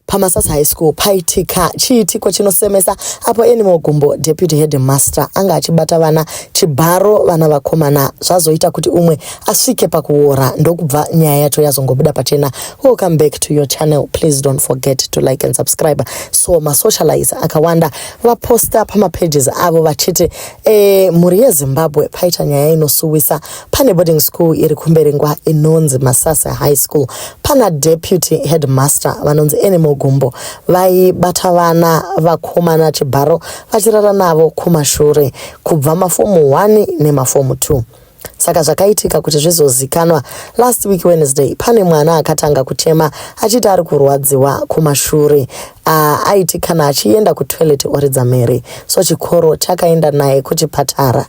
pamasas high school paitika chiitiko chinosemesa apo animal gumbo deputy headmaster anga achibata vana chibharo vana vakomana zvazoita kuti umwe asvike pakuora ndokubva nyaya yacho yazongobuda pachena welcome back to your channel please don't forget to like and subscribe so masocialize akawanda vaposta pamapages avo vachiti e, mhuri yezimbabwe paita nyaya inosuwisa Pane boarding school iri kuMberengwa inonzi Masasa High School. Pana deputy headmaster vanonzi Enemo Gumbo vaibata vana vakomana chibharo vachirara navo kumashure kubva mafomu 1 nemafomu 2 saka zvakaitika kuti zvizozikanwa last week wednesday pane mwana akatanga kuchema achiti ari kurwadziwa kumashure uh, aiti kana achienda kutoilet oridza mhere so chikoro chakaenda naye kuchipatara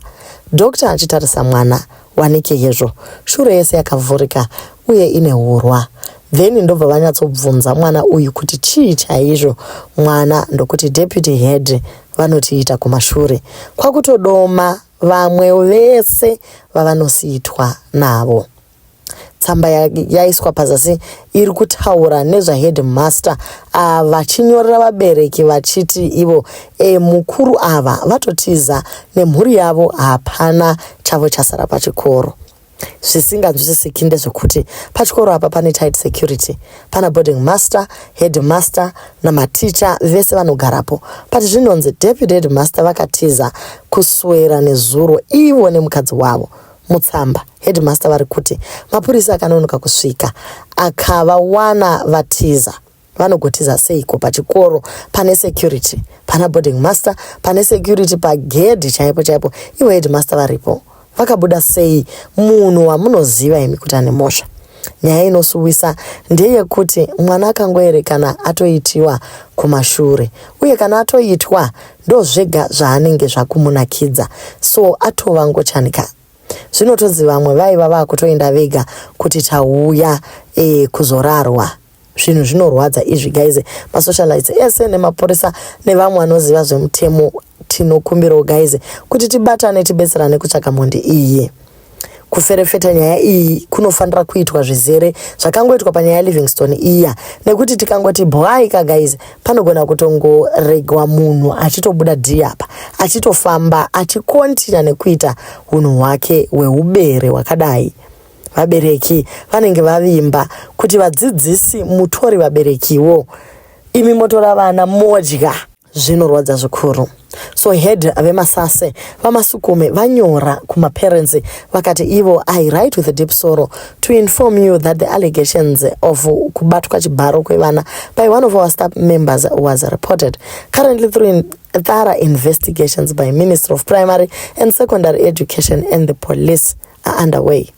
Doctor achitarisa mwana wanike hezvo shure yese yakavhurika uye ine hurwa then ndobva vanyatsobvunza mwana uyu kuti chii chaizvo mwana ndokuti deputy head vanotiita kumashure kwakutodoma vamwe vese vavanosiitwa navo tsamba yaiswa pazasi iri kutaura nezvaheadmaster ava ah, vachinyorera vabereki vachiti ivo e, mukuru ava vatotiza nemhuri yavo hapana chavo chasara pachikoro zvisinganzwisisiki ndezvekuti pachikoro apa pane tight security pana boarding master headmaster namaticha vese vanogarapo but zvinonzi deputy headmaster vakatiza kuswera nezuro ivo nemukadzi wavo Mutsamba, headmaster vari kuti mapurisa akanonoka kusvika akavawana vatiza. Vanogotiza seiko pachikoro pane security, pana boarding master pane security pagedhi chaipo chaipo, ivo headmaster varipo. Vakabuda sei munhu wamunoziva imi kuti ane mhosva? Nyaya inosuwisa ndeyekuti mwana akangoerekana atoitiwa kumashure, uye kana atoitwa ndozvega zvaanenge zvakumunakidza so atova ngochani ka zvinotodzi vamwe vaiva vakutoenda vega kuti tauya e, kuzorarwa zvinhu zvinorwadza izvi guys masocialites ese nemapurisa nevamwe vanoziva zvemutemo tinokumbirawo guys kuti tibatane tibetserane kutsvaka mhondi iye kuferefeta nyaya iyi kunofanira kuitwa zvizere zvakangoitwa panyaya yelivingston iya nekuti tikangoti bwai ka guys panogona kutongoregwa munhu achitobuda dhiri apa achitofamba achikontina nekuita unhu hwake hweubere hwakadai vabereki vanenge vavimba kuti vadzidzisi mutori vaberekiwo imi motora vana modya zvinorwadza zvikuru so head vemasase vamasukume vanyora kumaparents vakati ivo i write with a deep sorrow to inform you that the allegations of kubatwa chibharo kwevana by one of our staff members was reported currently through in thorough investigations by minister of primary and secondary education and the police are underway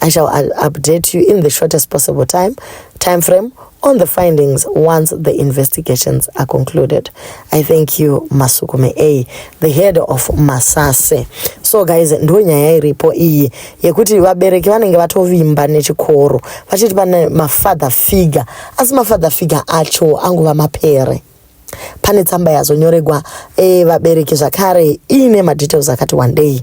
I shall update you in the shortest possible time, time frame on the findings once the investigations are concluded. I thank you Masukume A, the head of Masase. So guys, ndo nyaya iripo iyi yekuti vabereki vanenge vatovimba nechikoro vachiti pane mafather figure, asi mafather figure acho angova mapere pane tsamba yazonyoregwa e, vabereki zvakare iine madetails akati wandei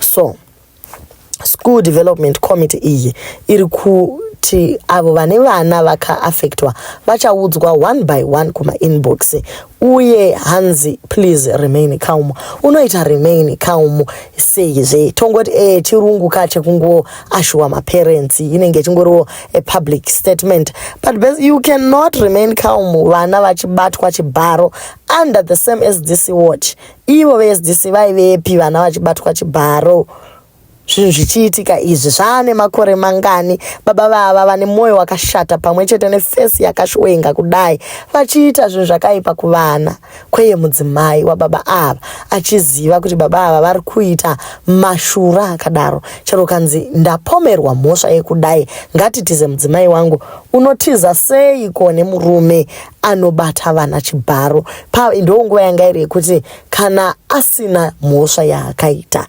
so school development committee iyi iri kuti avo vane vana vakaafectwa vachaudzwa one by one kumainbox uye hanzi please remain calm unoita remain calm sei zve tongoti e chirungu ka chekungo ashuwa maparents inenge chingoriwo a public statement but best, you cannot remain calm vana vachibatwa chibharo under the same as this watch Ivo veSDC vaivepi vana vachibatwa chibharo zvinhu zvichiitika izvi zvaane makore mangani baba vava vane mwoyo wakashata pamwe chete nefesi yakashwenga kudai vachiita zvinhu zvakaipa kuvana kweye mudzimai wababa ava achiziva kuti baba ava vari kuita mashura akadaro chero kanzi ndapomerwa mhosva yekudai ngatitize mudzimai wangu unotiza seiko nemurume anobata vana chibharo pa ndonguva yanga iri yekuti kana asina mhosva yaakaita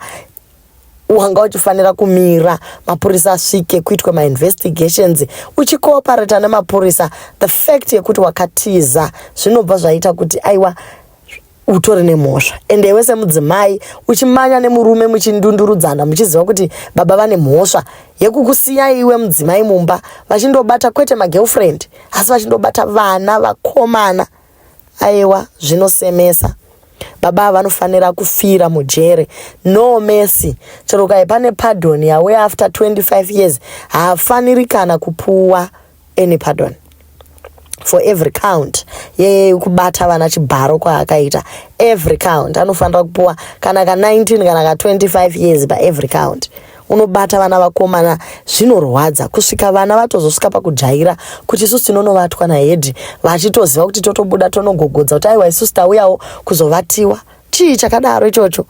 wanga uchifanira kumira mapurisa asvike kuitwa mainvestigations uchikooparata nemapurisa the fact yekuti wakatiza zvinobva zvaita kuti aiwa utori nemhosva ende iwe semudzimai uchimanya nemurume muchindundurudzana muchiziva kuti baba vane mhosva yekukusiya iwe mudzimai mumba vachindobata kwete magirlfriend asi vachindobata vana vakomana aiwa zvinosemesa baba vanofanira kufira mujere no mercy chero kai pane pardon yauya after 25 years haafaniri kana kupuwa ah, any pardon for every count yekubata vana chibharo kwaakaita every count anofanira kupuwa kana ka 19 kana ka 25 years paevery count unobata vana vakomana zvinorwadza kusvika vana vatozosvika pakujaira kuti isusu tinonovatwa nahedhi vachitoziva kuti totobuda tonogogodza kuti aiwa isusu tauyawo kuzovatiwa chii chakadaro ichocho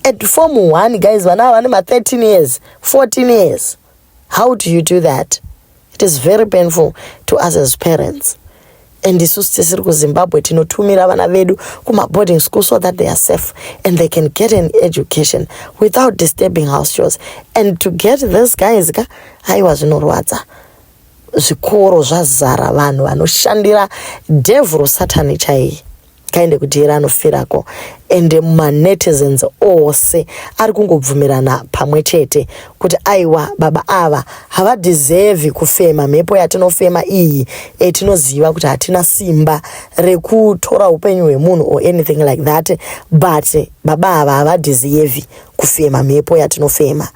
at form one guys vana ava vane ma 13 years 14 years How do you do that? It is very painful to us as parents. And isusu tisiri kuzimbabwe tinotumira vana vedu kumaboarding school so that they are safe and they can get an education without disturbing house chores and to get this guys ka haiwa zvinorwadza zvikoro zvazara vanhu vanoshandira devhuro satani chaiye kaende kudyera anofirako ende manetizens ose ari kungobvumirana pamwe chete kuti aiwa baba ava havadhizevhi kufema mhepo yatinofema iyi etinoziva kuti hatina simba rekutora upenyu hwemunhu or anything like that but baba ava havadhizevhi kufema mhepo yatinofema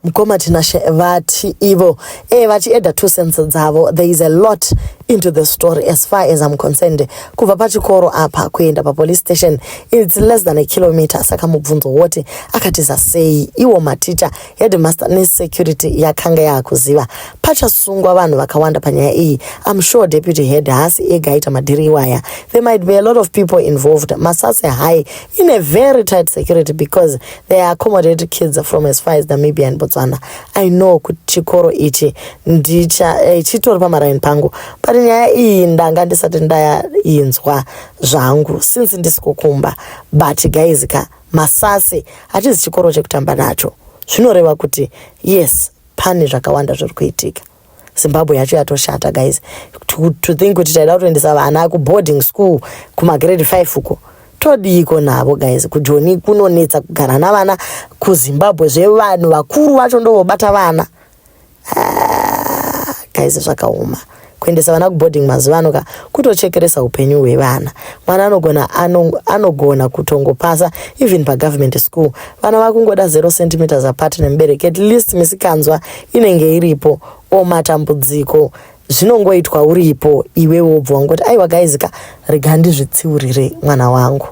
Mkoma Tinashe vati ivo eh, vati eda two cents dzavo there is a lot into the story as far as I'm concerned kubva pachikoro apa kuenda papolice station it's less than a kilometer saka mubvunzo woti akatiza sei iwo maticha headmaster nesecurity yakanga yakuziva pachasungwa vanhu vakawanda panyaya iyi I'm sure deputy head haasi ega aita madhiri iwaya there might be a lot of people involved masase high in a very tight security because they accommodate kids from as far as namibia and botswana i know kuti chikoro ichi eh, chitori pamaraini pangu but nyaya iyi ndanga ndisati ndainzwa zvangu since ndisikukumba but guys ka masasi hatizi chikoro chekutamba nacho zvinoreva kuti yes pane zvakawanda zviri kuitika zimbabwe yacho yatoshata guys to, to think kuti taida kutoendesa vana kuboarding school kumagrade 5 uko todiiko navo guys kujoni kunonetsa kugara navana kuzimbabwe zvevanhu vakuru vacho ndovobata vana ah, guys zvakaoma kuendesa vana kuboarding mazuva ano ka kutochekeresa upenyu hwevana mwana anogona anogona kutongopasa even pagovernment school vana vakungoda zero centimeters apart nemubereki at least misikanzwa inenge iripo o matambudziko zvinongoitwa uripo iwe wobva wangoti aiwa guys ka rega ndizvitsiurire mwana wangu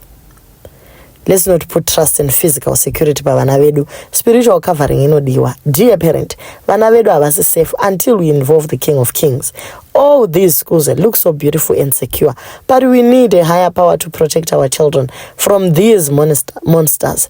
let's not put trust and physical security pavana vedu spiritual covering inodiwa dear parent vana vedu havasi safe until we involve the king of kings all these schools that look so beautiful and secure but we need a higher power to protect our children from these monster monsters